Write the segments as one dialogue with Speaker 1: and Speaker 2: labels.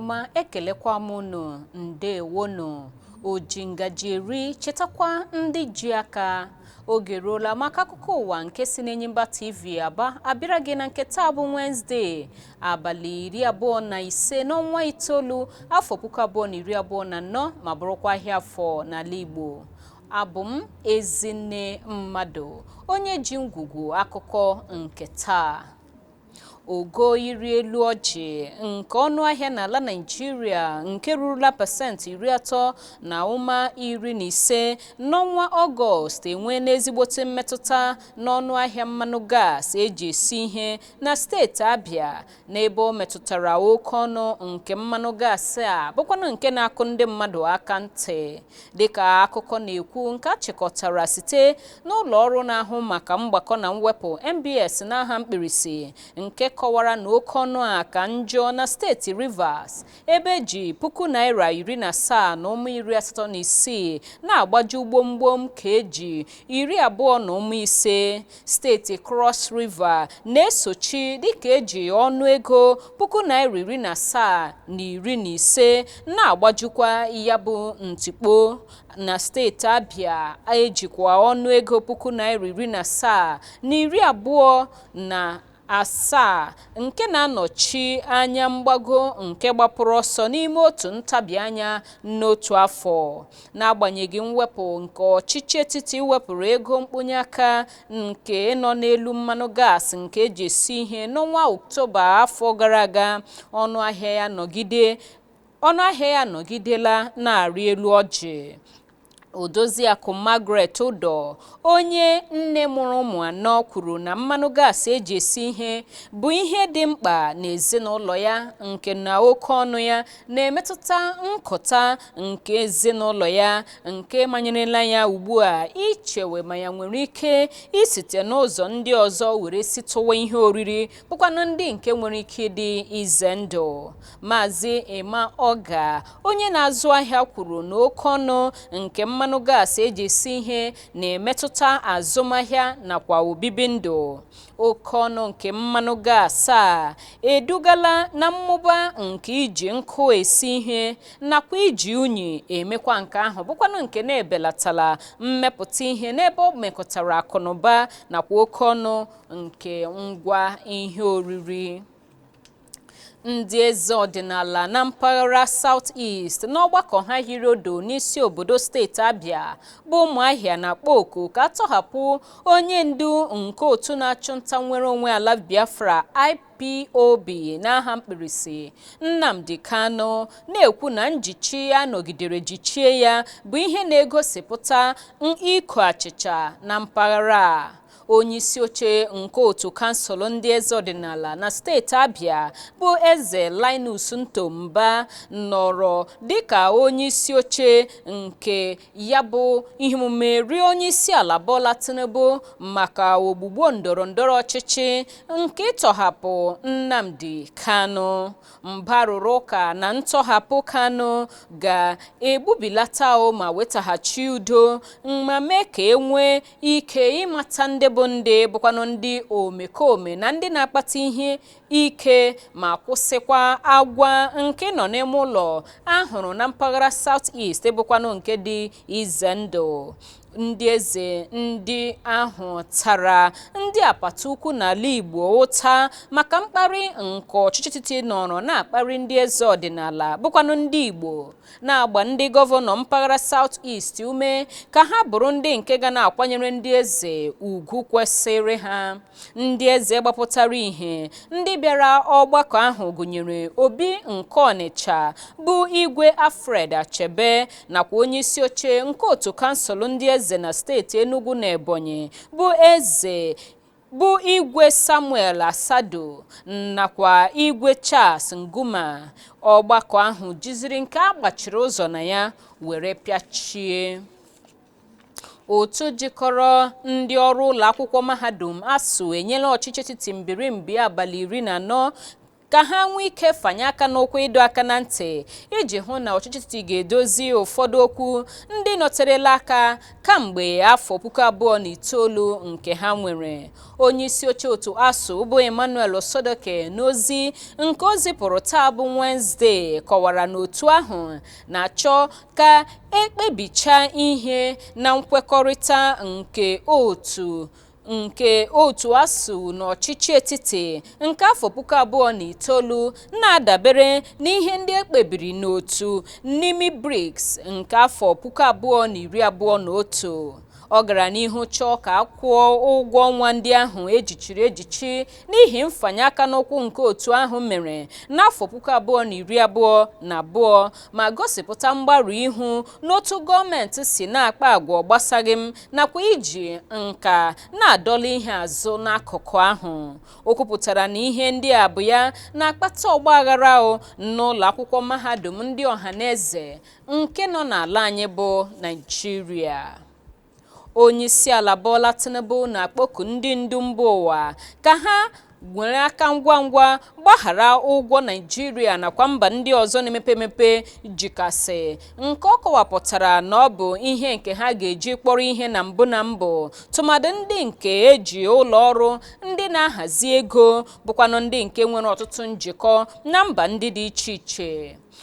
Speaker 1: ọma ekelekwa m unu ndewonu oji ngaji eri chetakwa ndị ji aka oge ruola maka akụkọ ụwa nke si n'Enyimba TV Aba abịara gị na nke taa bụ Wednesday abalị iri abụọ na ise n'ọnwa itoolu afọ puku abụọ na iri abụọ na anọ ma bụrụkwa ahịa afọ n'ala Igbo abụ m Ezinne Mmadụ onye ji ngwugwu akụkọ nke taa ogo ịrị elu ọjị nke ọnụ ahịa n'ala Naịjirịa nke rurula pasentị iri atọ na ụma iri na ise n'ọnwa Ọgọst enweena ezigbote mmetụta n'ọnụ ahịa mmanụ gas eji esi ihe na steeti Abia n'ebe o metụtara oke ọnụ nke mmanụ gas a bụkwanụ nke na-akụ ndị mmadụ aka ntị dịka akụkọ na-ekwu nke a chịkọtara site n'ụlọ ọrụ na-ahụ maka mgbakọ na mwepụ NBS n'aha mkpirisi nke kọwara na oke ọnụ a ka njọ na steeti Rivers ebe eji puku naira iri na asaa na ụma iri asatọ na isii na-agbaju gbomgbom kg iri abụọ na ụma ise steeti Cross River na-esochi dịka eji ọnụego puku naira iri na asaa na iri na ise na-agbajukwa ya bụ ntikpo na steeti Abia ejikwa ọnụego puku naira iri na asaa na iri abụọ na asaa nke na-anọchi anya mgbago nke gbapụrụ ọsọ n'ime otu ntabi anya n'otu afọ n'agbanyeghị mwepụ nke ọchịchị etiti wepụrụ ego mkponye aka nke nọ n'elu mmanụ gas nke eji esi ihe n'ọnwa Ọktoba afọ gara aga ọnụ ahịa ya anọgidela na-arị elu ọjị Odoziakụ Margaret Udo onye nne mụrụ ụmụ anọ kwuru na mmanụ gas eji esi ihe bụ ihe dị mkpa n'ezinụlọ ya nke na oke ọnụ ya na-emetụta nkụta nke ezinụlọ ya nke manyerela ya ugbu a ichewe ma ya nwere ike isite n'ụzọ ndị ọzọ were sitụwa ihe oriri bụkwanụ ndị nke nwere ike ịdị ize ndụ Maazị Emma Oga, onye na-azụ ahịa kwuru na oke ọnụ nke mmanụ gas eji esi ihe na-emetụta azụmahịa nakwa obibi ndụ. Oke ọnụ nke mmanụ gas a edugala na mmụba nke iji nkụ esi ihe nakwa iji unyi emekwa nke ahụ bụkwanụ nke na-ebelatala mmepụta ihe n'ebe o mekọtara akụnụba nakwa oke ọnụ nke ngwa ihe oriri. ndị eze ọdịnala na mpaghara South East n'ọgbakọ ha hiri odo n'isi obodo steeti Abia bụ Ụmụahịa na-akpọ oku ka a tọhapụ onye ndu nke otu na-achụ nta nnwere onwe ala Biafra IPOB n'aha mkpirisi Nnamdi Kanu na-ekwu na njichi a nọgidere jichie ya bụ ihe na-egosipụta iko achịcha na mpaghara a onye isi oche nke otu kansụl ndị eze ọdịnala na steeti abịa bụ eze linus nto mba nọrọ dịka onye isi oche nke ya bụ ihe omume rịọ onye isi ala bola tinubu maka ogbugbo ndọrọ ndọrọ ọchịchị nke ịtọhapụ nnamdi kanu mba rụrụ ụka na ntọhapụ kanu ga-egbubilata ma wetaghachi udo ma mee ka e nwee ike ịmata ndị bụ ndị bụkwanụ ndị omekome na ndị na-akpata ihe ike ma kwụsịkwa agwa nke ịnọ n'ime ụlọ a hụrụ na mpaghara South East bụkwanụ nke dị ize ndụ ndị eze ndị ahụ tara ndị apata ukwu n'ala Igbo ụta maka mkparị nke ọchịchị etiti nọrọ na-akparị ndị eze ọdịnala bụkwanụ ndị Igbo na-agba ndị gọvanọ mpaghara South East ume ka ha bụrụ ndị nke ga na-akwanyere ndị eze ugwu kwesịrị ha ndị eze gbapụtara ihe ndị bịara ọgbakọ ahụ gụnyere Obi nke Ọnịcha bụ Igwe Alfred Achebe nakwa onye isi oche nke otu kansụl ndị eze na steeti Enugu na Ebonyi bụ eze bụ Igwe Samuel Asadu nakwa Igwe Charles Mkpuma ọgbakọ ahụ jiziri nke a gbachiri ụzọ na ya were pịachie otu jikọrọ ndị ọrụ ụlọ akwụkwọ mahadum ASUU enyela ọchịchị etiti mbirimbi abalị iri na anọ ka ha nwee ike fanye aka n'ụkwụ ịdọ aka na ntị iji hụ na ọchịchị etiti ga-edozi ụfọdụ okwu ndị nọterela aka kamgbe afọ puku abụọ na itoolu nke ha nwere onye isi oche otu ASUU bụ emmanuel osodeke n'ozi nke o zipụrụ taa bụ wenezdee kọwara na otu ahụ na-achọ ka e kpebichaa ihe na nkwekọrịta nke otu nke otu ASUU na ọchịchị etiti nke afọ puku abụọ na itoolu na-adabere n'ihe ndị e kpebiri n'otu Nimi Briggs nke afọ puku abụọ na iri abụọ na otu ọ gara n'ihu chọọ ka a kwụọ ụgwọ ọnwa ndị ahụ e jichiri ejichi n'ihi mfanye aka n'ụkwụ nke otu ahụ mere n'afọ puku abụọ na iri abụọ na abụọ ma gosipụta mgbarụ ihu n'otu gọọmenti si na-akpa agwa ọ gbasaghị m nakwa iji nka na-adọla ihe azụ n'akụkụ ahụ o kwupụtara na ihe ndị a bụ ya na-akpata ọgbaghara o n'ụlọ akwụkwọ mahadum ndị ọha na eze nke nọ n'ala anyị bụ Naịjirịa onyeisiala Bola Tinubu na-akpọku ndị ndu mba ụwa ka ha nwere aka ngwa ngwa gbaghara ụgwọ Naịjirịa nakwa mba ndị ọzọ na-emepe emepe jikasị nke ọ kọwapụtara na ọ bụ ihe nke ha ga-eji kpọrọ ihe na mbụ na mbụ tụmadị ndị nke eji ụlọ ọrụ ndị na-ahazi ego bụkwanụ ndị nke nwere ọtụtụ njikọ na mba ndị dị iche iche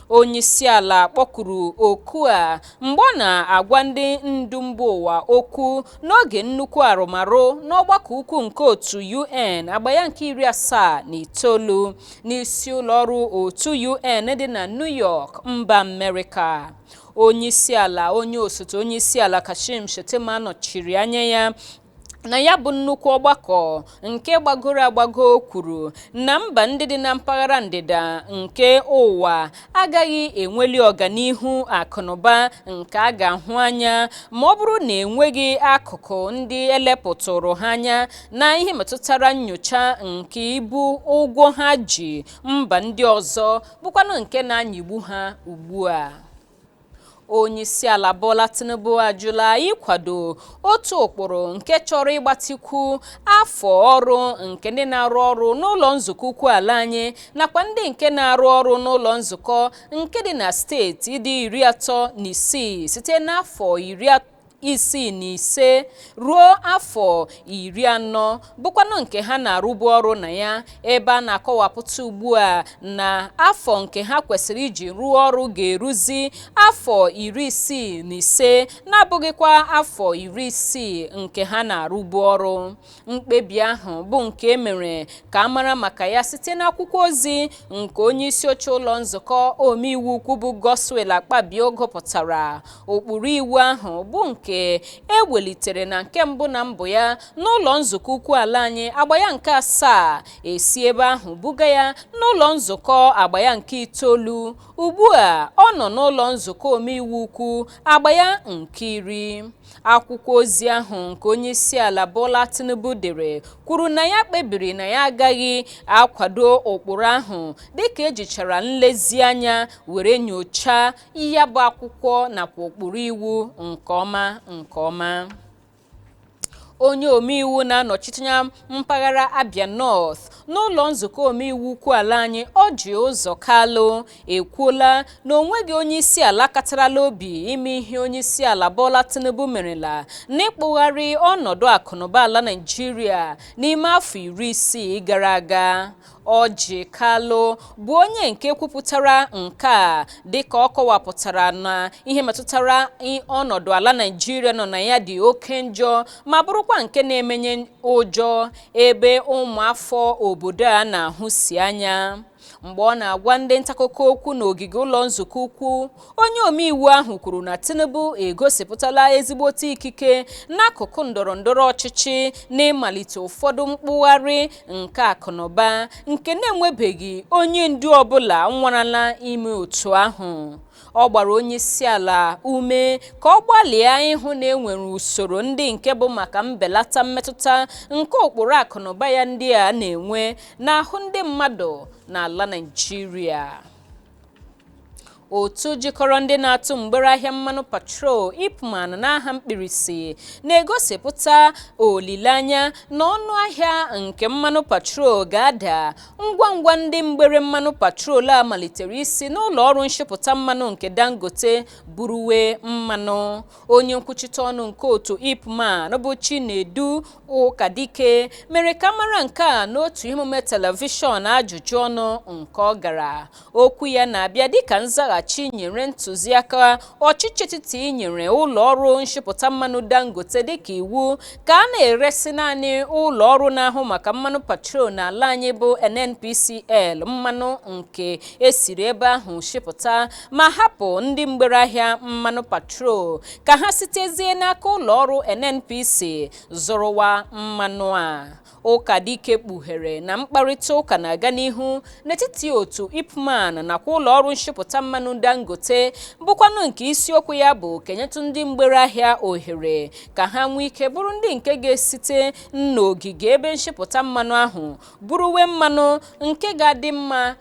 Speaker 1: Onyeisiala kpọkuru oku a mgbe ọ na-agwa ndị ndu mba ụwa okwu n'oge nnukwu arụmarụ n'ọgbakọ ukwu nke otu UN agba ya nke iri asaa na itoolu n'isi ụlọọrụ otu UN dị na New York mba Amerịka. Onyeisiala onye osote onyeisiala Kashim Shettima nọchiri anya ya na ya bụ nnukwu ọgbakọ nke gbagoro agbago kwuru na mba ndị dị na mpaghara ndịda nke ụwa agaghị enweli ọganihu akụnụba nke a ga-ahụ anya ma ọ bụrụ na enweghị akụkụ ndị elepụtụrụ ha anya na ihe metụtara nyocha nke ibu ụgwọ ha ji mba ndị ọzọ bụkwanụ nke na-anyịgbu ha ugbu a onyeisiala Bola Tinubu ajụla ịkwado otu ụkpụrụ nke chọrọ ịgbatikwu afọ ọrụ nke ndị na-arụ ọrụ n'ụlọ nzukọ ukwu ala anyị nakwa ndị nke na-arụ ọrụ n'ụlọ nzukọ nke dị na steeti dị iri atọ na isii site n'afọ iri isii na ise ruo afọ iri anọ bụkwanụ nke ha na-arụbu ọrụ na ya ebe a na-akọwapụta ugbu a na afọ nke ha kwesịrị iji rụọ ọrụ ga-eruzi afọ iri isii na ise na-abụghịkwa afọ iri isii nke ha na-arụbu ọrụ Mkpebi ahụ bụ nke e mere ka a mara maka ya site n'akwụkwọ ozi nke onye isi oche ụlọ nzukọ omeiwu ukwu bụ Godswill Akpabio gụpụtara ụkpụrụ iwu ahụ bụ nke e welitere na nke mbụ na mbụ ya n'ụlọ nzukọ ukwu ala anyị agba ya nke asaa e si ebe ahụ buga ya n'ụlọ nzukọ agba ya nke itoolu ugbu a ọ nọ n'ụlọ nzukọ omeiwu ukwu agba ya nke iri akwụkwọ ozi ahụ nke onyeisiala Bola Tinubu dere kwuru na ya kpebiri na ya agaghị akwado ụkpụrụ ahụ dịka ejichara nlezianya were nyochaa ya bụ akwụkwọ nakwa ụkpụrụ iwu nke ọma nke ọma onye omeiwu na-anọchite anya mpaghara Abia North n'ụlọ nzukọ omeiwu ukwu ala anyị Orji Ụzọ Kalụ ekwuola na onweghị onye isi ala katarala obi ime ihe onye isi ala Bola Tinubu merela n'ịkpụgharị ọnọdụ akụnụba ala Naịjirịa n'ime afọ iri isii gara aga Orji Kalu bụ onye nke kwupụtara nke a dịka ọ kọwapụtara na ihe metụtara ọnọdụ ala Naịjirịa nọ na ya dị oke njọ ma bụrụkwa nke na-emenye ụjọ ebe ụmụafọ obodo a na-ahụsi anya mgbe ọ na-agwa ndị ntaakụkọ okwu n'ogige ụlọ nzukọ ukwu onye omeiwu ahụ kwuru na tinubu egosipụtala ezigbote ikike n'akụkụ ndọrọ ndọrọ ọchịchị n'ịmalite ụfọdụ mkpụgharị nke akụnụba nke na-enwebeghị onye ndu ọbụla nwarala ime otu ahụ Ọ gbara onyeisiala ume ka ọ gbalịa ịhụ na enwere usoro ndị nke bụ maka mbelata mmetụta nke ụkpụrụ akụnụba ya ndị a na-enwe n'ahụ ndị mmadụ n'ala Naịjirịa. Otu jikọrọ ndị na-atụ mgbere ahịa mmanụ petrol IPMAN n'aha mkpirisi na-egosipụta olileanya na ọnụ ahịa nke mmanụ petrol ga-ada ngwa ngwa ndị mgbere mmanụ petrol a malitere isi n'ụlọ ọrụ nshipụta mmanụ nke dangote buruwe mmanụ onye nkwuchite ọnụ nke otu ipman bụ chinedu ụkadike mere ka mara nke a n'otu emume telivishọn ajụjụ ọnụ nke ọ gara Okwu ya na-abịa dịka nzaghachi nyere ntụziaka ọchịchị etiti nyere ụlọ ọrụ nshipụta mmanụ Dangote dịka iwu ka a na-eresi naanị ụlọ ọrụ na-ahụ maka mmanụ petrol n'ala anyị bụ NNPCL mmanụ nke esiri ebe ahụ shipụta ma hapụ ndị mgbere ahịa mmanụ petrol ka ha sitezie n'aka ụlọ ọrụ NNPC zụrụwa mmanụ a Ụkadike kpughere na mkparịta ụka na-aga n'ihu n'etiti otu IPMAN nakwa ụlọọrụ nshipụta mmanụ Dangote bụkwanụ nke isiokwu ya bụ ka enyetụ ndị mgbere ahịa ohere ka ha nwee ike bụrụ ndị nke ga-esite n'ogige ebe nshipụta mmanụ ahụ buruwe mmanụ nke ga-adị mma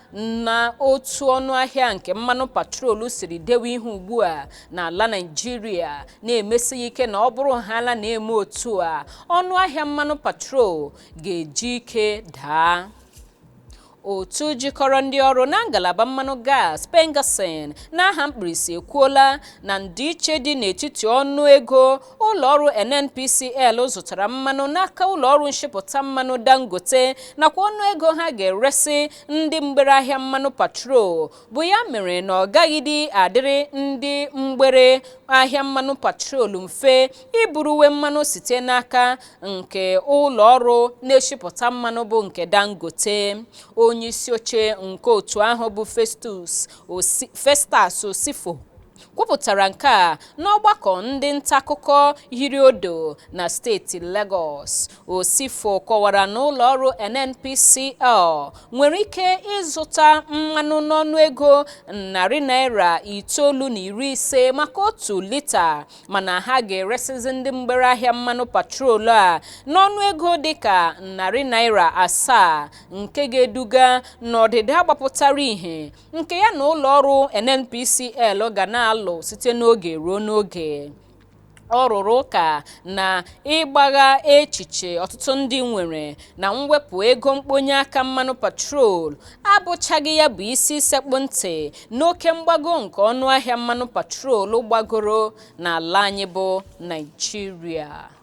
Speaker 1: na otu ọnụahịa nke mmanụ petrol siri dewe ihe ugbu a n'ala Naịjirịa na-emesi ya ike na ọ bụrụhaala na emee otu a ọnụahịa mmanụ petrol ga-eji ike daa otu jikọrọ ndị ọrụ na ngalaba mmanụ gas PENGASSAN n'aha mkpirisi ekwuola na ndịiche dị n'etiti ọnụ ego ụlọọrụ NNPCL zụtara mmanụ n'aka ụlọọrụ nshipụta mmanụ Dangote nakwa ọnụego ha ga-eresi ndị mgbere ahịa mmanụ petrol bụ ya mere na ọ gaghịdị adịrị ndị mgbere ahịa mmanụ petrol mfe iburuwe mmanụ site n'aka nke ụlọọrụ na-eshipụta mmanụ bụ nke Dangote onye isi oche nke otu ahụ bụ Festus Osifo kwupụtara nke a n'ọgbakọ ndị ntakụkọ hiri odo na steeti Lagos Osifo kọwara na ụlọ ọrụ NNPCL nwere ike ịzụta mmanụ n'ọnụ ego narị naira itoolu na iri ise maka otu lita mana ha ga-eresizi ndị mgbere ahịa mmanụ petrol a n'ọnụ ego dịka narị naira asaa nke ga-eduga n'ọdịda gbapụtara ihe nke ya na ụlọ ọrụ NNPCL ga na-alụ site n'oge ruo n'oge ọ rụrụ ụka na ịgbagha echiche ọtụtụ ndị nwere na mwepụ ego mkponye aka mmanụ petrol abụchaghị ya bụ isi sekpụ ntị n'oke mgbago nke ọnụ ahịa mmanụ petrol gbagoro n'ala anyị bụ Naịjirịa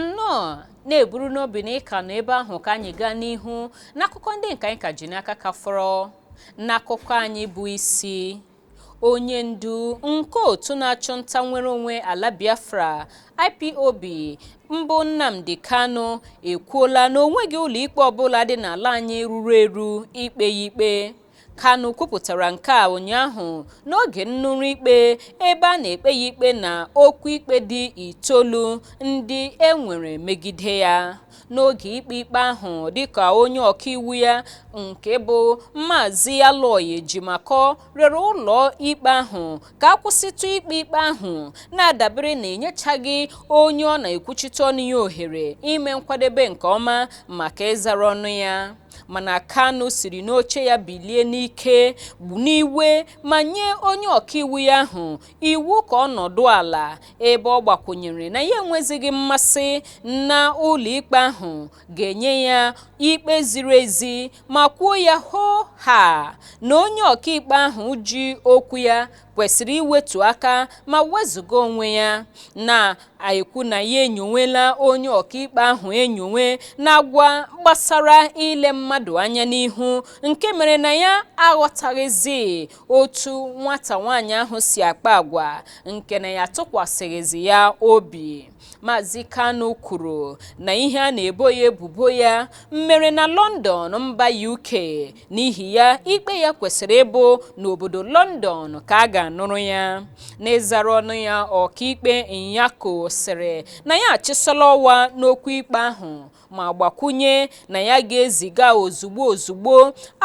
Speaker 1: nnọọ na-eburu n'obi na ị ka nọ ebe ahụ ka anyị gaa n'ihu n'akụkọ ndị nke anyị ka ji n'aka ka fọrọ n'akụkọ anyị bụ isi onye ndu nke otu na-achụ nta nnwere onwe ala Biafra IPOB mbụ Nnamdi Kanu ekwuola na o nweghị ụlọikpe ọbụla dị n'ala anyị ruru eru ikpe ya ikpe Kanu kwupụtara nke a ụnyaahụ n'oge nnụrụ ikpe ebe a na-ekpe ya ikpe na okwu ikpe dị itoolu ndị e nwere megide ya. N'oge ikpe ikpe ahụ dịka onye ọkaiwu ya nke bụ Maazị Aloy Ejimakor rịọrọ ụlọ ikpe ahụ ka a kwụsịtụ ikpe ikpe ahụ na-adabere na enyechaghị onye ọ na-ekwuchite ọnụ ya ohere ime nkwadebe nke ọma maka ịzara ọnụ ya. mana Kanu siri n'oche ya bilie n'ike n'iwe ma nye onye ọkaiwu ya ahụ iwu ka ọ nọdụ ala ebe ọ gbakwụnyere na ya enwezighị mmasị na ụlọikpe ahụ ga-enye ya ikpe ziri ezi ma kwuo ya hoo ha na onye ọkaikpe ahụ ji okwu ya kwesịrị iwetu aka ma wezuga onwe ya na-ekwu na ya enyonwela onye ọkaikpe ahụ enyonwe n'agwa gbasara ile mmadụ anya n'ihu nke mere na ya aghọtaghịzi otu nwata nwaanyị ahụ si akpa agwa nke na ya tụkwasịghịzi ya obi Maazị Kanu kwuru na ihe a na-ebo ya ebubo ya mere na London mba UK n'ihi ya ikpe ya kwesịrị ịbụ n'obodo London ka a ga-anụrụ ya n'ịzara ọnụ ya ọkaikpe Nyako sịrị na ya achịsọla ọwa n'okwu ikpe ahụ ma gbakwunye na ya ga-eziga ozugbo ozugbo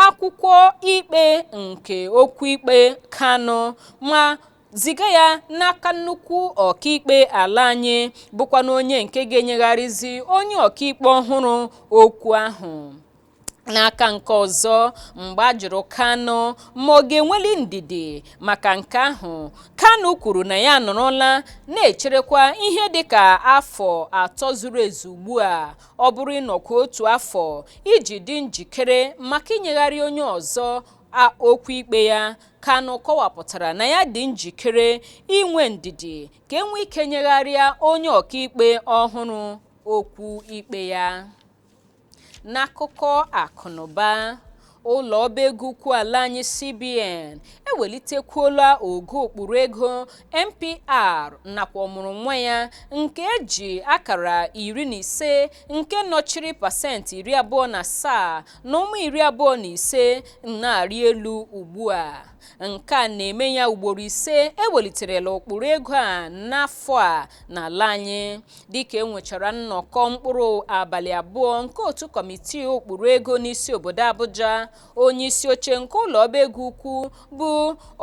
Speaker 1: akwụkwọ ikpe nke okwu ikpe Kanu ma ziga ya n'aka nnukwu ọkaikpe ala anyị bụkwanụ onye nke ga-enyegharịzi onye ọkaikpe ọhụrụ okwu ahụ n'aka nke ọzọ mgbe a jụrụ Kanu ma ọ ga-enweli ndidi maka nke ahụ Kanu kwuru na ya anọrọla na-echerekwa ihe dịka afọ atọ zuru ezu ugbu a ọ bụrụ ịnọkwa otu afọ iji dị njikere maka inyegharị onye ọzọ A okwu ikpe ya, Kanu kọwapụtara na ya dị njikere inwe ndidi ka e nwee ike nyegharịa onye ọkaikpe ọhụrụ okwu ikpe ya. N'akụkọ akụnụba, ụlọ ọba ego ukwu ala anyị CBN ewelitekwuola ogo ụkpụrụ ego MPR nakwa ọmụrụ nwa ya nke e ji akara iri na ise nke nọchiri pasentị iri abụọ na asaa na ụma iri abụọ na ise na-arị elu ugbu a nke a na-eme ya ugboro ise e weliterela ụkpụrụ ego a n'afọ a n'ala anyị dịka e nwechara nnọkọ mkpụrụ abalị abụọ nke otu kọmitii ụkpụrụ ego n'isi obodo Abuja onye isi oche nke ụlọ ọba ego ukwu bụ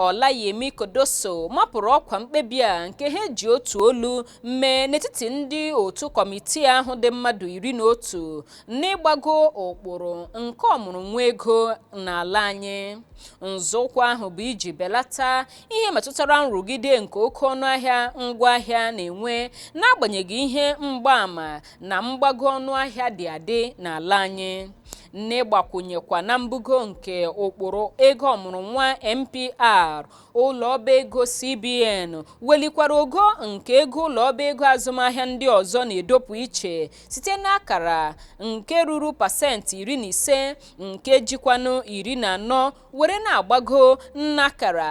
Speaker 1: Olayemi Cardoso mapụrụ ọkwa mkpebi a nke ha ji otu olu mee n'etiti ndị otu kọmitii ahụ dị mmadụ iri na otu n'ịgbago ụkpụrụ nke ọmụrụ nwa ego n'ala anyị nzọụkwụ ahụ bụ iji belata ihe metụtara nrụgide nke oke ọnụahịa ngwaahịa na-enwe n'agbanyeghị ihe mgbaama na mgbago ọnụahịa dị adị n'ala anyị n'ịgbakwunyekwa na mbugo nke ụkpụrụ ego ọmụrụ nwa mpr ụlọ ọba ego cbn welikwara ogo nke ego ụlọ ọba ego azụmahịa ndị ọzọ na-edopụ iche site n'akara nke ruru pasentị iri na ise nke jikwanụ iri na anọ were na-agbago n'akara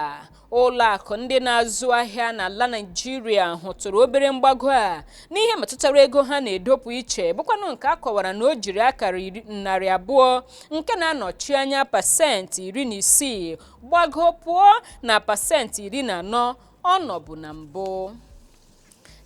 Speaker 1: ụlọ akụ ndị na-azụ ahịa n'ala Naịjirịa hụtụrụ obere mgbago a n'ihe metụtara ego ha na-edopụ iche bụkwanụ nke a kọwara na o jiri akara narị abụọ nke na-anọchi anya pasentị iri na isii gbago pụọ na pasentị iri na anọ ọ nọbu na mbụ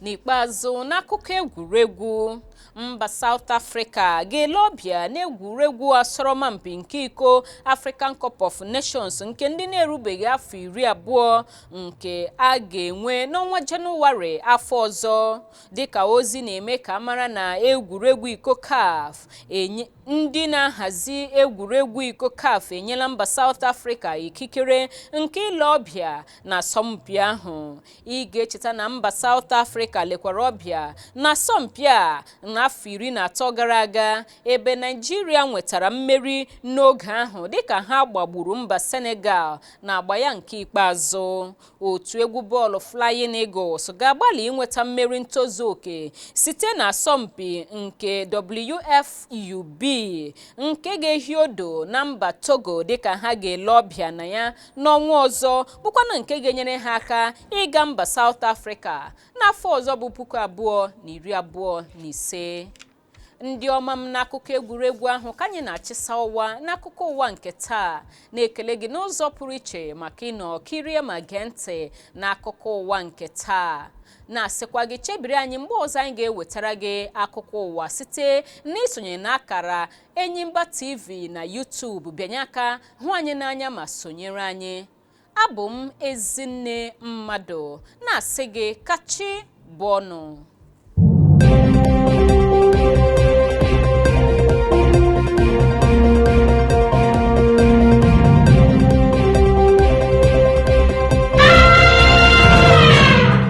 Speaker 1: n'ikpeazụ n'akụkọ egwuregwu mba South Africa ga-ele ọbịa n'egwuregwu asọrọmpi nke iko African Cup of Nations nke ndị na-erubeghị afọ iri abụọ nke a ga-enwe n'ọnwa Jenụwarị afọ ọzọ dịka ozi na-eme ka a mara na egwuregwu iko CAF ndị na-ahazi egwuregwu iko CAF enyela mba South Africa ikikere nke ile ọbịa na asọmpi ahụ ị ga-echeta na mba South Africa lekwara ọbịa n'asọmpi a n'afọ iri na atọ gara aga ebe Naijiria nwetara mmeri n'oge ahụ dịka ha gbagburu mba Senegal na agba ya nke ikpeazụ otu egwu bọọlụ Flying Eagles ga-agbalị inweta mmeri ntozu oke site na asọmpi nke WFUB nke ga-ehi odo na mba Togo dịka ha ga-ele ọbịa na ya n'ọnwa ọzọ bụkwanụ nke ga-enyere ha aka ịga mba South Africa n'afọ ọzọ bụ puku abụọ na iri abụọ na ise ndị ọma m n'akụkọ egwuregwu ahụ ka anyị na-achịsa ụwa n'akụkọ ụwa nke taa na-ekele gị n'ụzọ pụrụ iche maka ịnọ kirie ma gee ntị n'akụkọ ụwa nke taa na-asịkwa gị chebiri anyị mgbe ọzọ anyị ga-ewetara gị akụkọ ụwa site n'isonye n'akara Enyimba TV na YouTube bịanye aka hụ anyị n'anya ma sonyere anyị abụ m Ezinne Mmadụ na-asị gị ka chi bọọ nụ